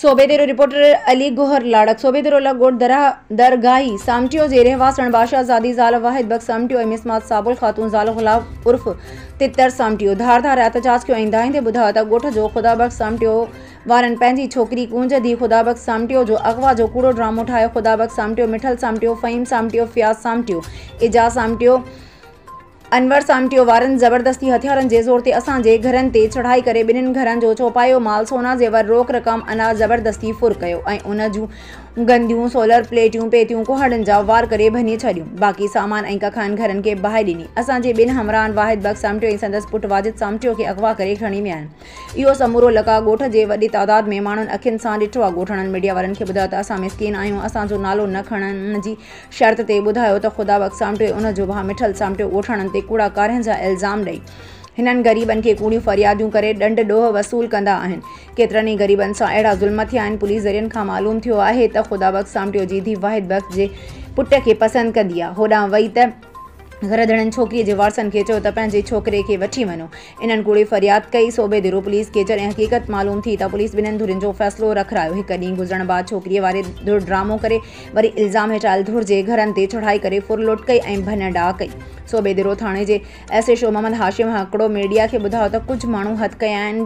صوبي ديرو، رپورٽر علي گوهر لاڙڪ، صوبي ديرو لاء ڳوٺ درگاهي سامٽيو جي رهواسڻ باشا زادي زال واحد بخش سامٽيو ۽ مس مات سابل خاتون زال غلام عرف تتر سامٽيو ڌار ڌار احتجاج ڪيو ۽ ڌائيندي ٻڌايو ته ڳوٺ جو خدا بخش سامٽيو وارن پنهنجي ڇوڪري ڪونج ڌيء خدا بخش سامٽيو جو اغوا جو ڪوڙو ڊرامو ٺاهيو خدا بخش سامٽيو مٺل سامٽيو فهيم سامٽيو فياض سامٽيو اعجاز سامٽيو انور سامٽيو وارن زبردستي هٿيارن جي زور تي اسان جي گهرن تي چڙهائي ڪري ٻنهن گهرن جو چوپايو مال سونا زيور روڪ رقم اناج زبردستي ڦر ڪيو ۽ ان جون گنديون سولر پليٽيون پيتيون ڪهاڙن جا وار ڪري ڀڃي ڇڏيون باقي سامان ۽ ڪکائن گهرن کي باهه ڏني اسان جي ٻن همراهن واحد بخش سامٽيو ۽ سندس پٽ واجد سامٽيو کي اغوا ڪري کڻي ويا آهن اهو سمورو لقاء ڳوٺ جي وڏي تعداد ۾ ماڻهن اکين سان ڏٺو آهي ڳوٺاڻن ميڊيا وارن کي ٻڌايو ته اسان مسڪين آهيون اسان جو نالو نه کڻڻ جي شرط تي ٻڌايو ته خدا وقت سامٽيو ان جو ڀاء مٺل سامٽيو ڳوٺاڻن تي ڪوڙا ڪارهن جا الزام ڏئي هنن غريبن کي ڪوڙيون فرياديون ڪري ڏنڊ ڏوهه وصول ڪندا آهن ڪيترن ئي غريبن سان اهڙا ظلم ٿيا آهن پوليس ذريعن کان معلوم ٿيو آهي ته خدا بخش سامٽيو جي ڌي واحد بخش جي پٽ کي پسند ڪندي آهي هوڏانهن وئي ته گهرڌڻين ڇوڪري جي وارثن کي چيو ته پنهنجي ڇوڪري کي وٺي وڃو انهن ڪوڙي فرياد ڪئي، صوبي ديرو پوليس کي جڏهن حقيقت معلوم ٿي ته پوليس ٻنهين ڌرين جو فيصلو رکرايو، هڪ ڏينهن گذرڻ بعد ڇوڪريء واري ڌر ڊرامو ڪري وري الزام هيٺاهيل ڌر جي گهرن تي چڙهائي ڪري ڦر لوٽ ڪئي ۽ ڀڃ ڊاهه ڪئي، صوبي ديرو ٿاڻي جي S H O Muhammad Hashim هڪڙو ميڊيا کي ٻڌايو ته ڪجهه ماڻهو هٿ ڪيا آهن،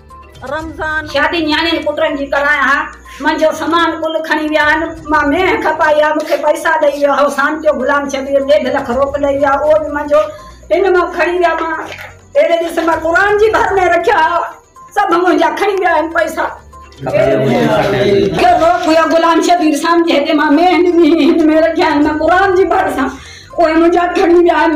رمضان. شادي نياڻين پٽن جي ڪرايان ها، منهنجو سامان ڪل کڻي ويا آهن، مان مينهن کپائي ها، مون کي پئسا ڏئي ويا هو، سانتيو غلام شبير ڏيڍ لک روڪ ڏئي ويا، اهو به منهنجو هن مان کڻي ويا، مان اهڙي ڏس مان قرآن جي ڀر ۾ رکيا ها، سڀ منهنجا کڻي ويا آهن پئسا. ڪير روڪ هيا غلام شبير سانتي هتي مان مينهن ڏني هئي، هن ۾ رکيا آهن، مان قرآن جي ڀر سان، اهي منهنجا کڻي ويا آهن.